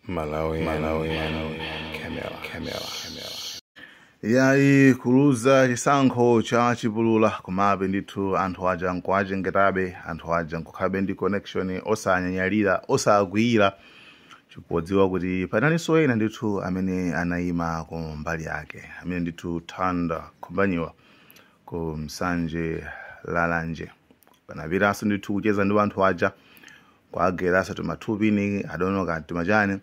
Malawi, Malawi, Malawi, Camera, Camera, Camera. yayi kuluza chisankho cha chipulula komabe ndithu anthu aja nkuwachengetabe anthu aja nkukhabe ndi connection osanyanyalira osakwiyira chikudziwa kuti panalinso ena ndithu amene anayima ku mbali yake amene ndithu nthanda khumbanyiwa ku nsanje lalanje panapitanso ndithu kucheza ndi anthu aja kuagerasa tumatubini adono ka timachani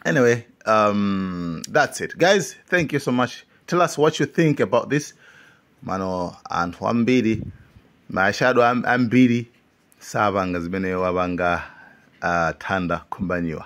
anyway um, that's it guys thank you so much tell us what you think about this mano anthu ambiri mashado am- ambiri sapanga zimene wapanga uh, thanda khumbaniwa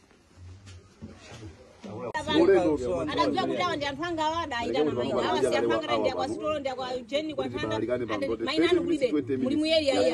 adadziwa kuti awa ndi anthu anga awa adayitana maina awa si anthu anga tani ndi a kwa sitolo ndi a kwa jeni kwa nthanda adati maina anu kulibe muli mu area iyi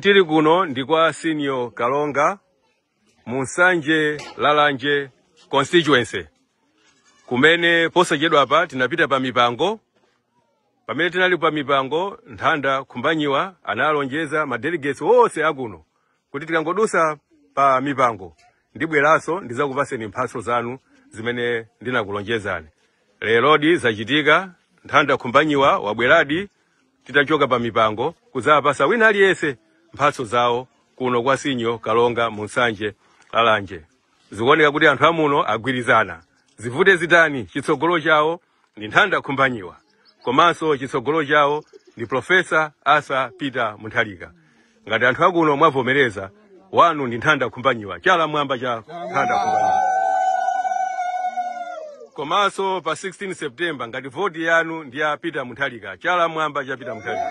Tili kuno ndi kwa Senior Kalonga mu Nsanje Lalanje constituency kumene posachedwapa tinapita pa mipango pamene tinali pa mipango nthanda khumbanyiwa analonjeza ma delegates onse akuno kuti tikangodusa pa mipango ndibweranso ndizakupaseni mphatso zanu zimene ndinakulonjezani lerodi zachitika nthanda khumbanyiwa wabweradi titachoka pa mipango kudzawapasa wina aliyense mphatso zawo kuno kwa senior kalonga mu nsanje lalanje zikuoneka kuti anthu amuno agwirizana zivute zitani chitsogolo chawo ndi nthanda khumbanyiwa komanso chitsogolo chawo ndi profesa arthur peter mutharika ngati anthu akuno mwavomereza wanu ndi nthanda khumbanyiwa chala mwamba cha nthanda khumbanyiwa komanso pa 16 september ngati voti yanu ndi ya peter mutharika chala mwamba cha peter mutharika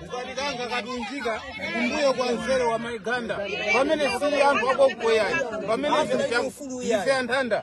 kukatikanga katunjika kumbuyo kwa mzere wa mai ganda pamene sili anthu akokukoyayi pamene zinthu ife anthanda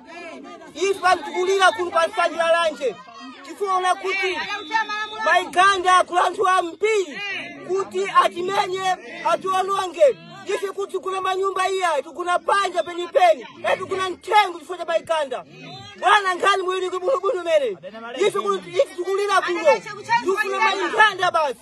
ife amtikulira kuno kwa nsanje lalanje tikuona kuti mai ganda agula anthu ambiri kuti atimenye atiwononge ife kuti kugona manyumba iya tigona panja penipeni e tigona mthengo chifukwa cha mai ganda bwana nkhani mwili bwinobwino mene ife kuti- ife tikulira kuno tikuna mai ganda basi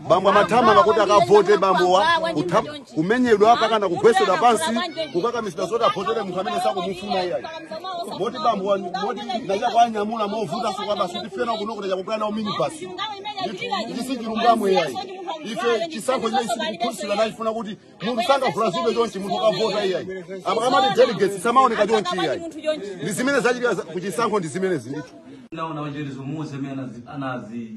bambo amathamanga kuti akavote bambowa kutha- kumenyedwa mpakana kugwetsedwa pansi kukakamizidwa zoti avotere munthu amene sakumufuna iyayi moti bambowa moti pochoka nawanyamula movuta tikukamba sitifuna kuno kuti chakupha nawo minibasi ichi sichilungamo iyayi ife chisankho chimene sitikuphunzira nacho sitifuna kuti munthu angavulazidwe chonchi munthu akavota iyayi apa akamati delegates samaoneka chonchi iyayi ndi zimene zachitika za- kuchisankho ndi zimenezi ndithu ndaona wachenjezo muwauze amene anazi- anazi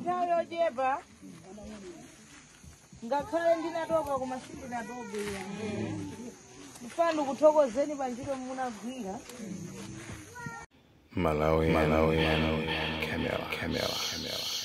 nthawi yochepa ngakhale ndinatopa koma sindinatope mfuna nkuthokozeni pa ntchito munagwira Malawi, Malawi, Malawi, Camera, Camera, Camera.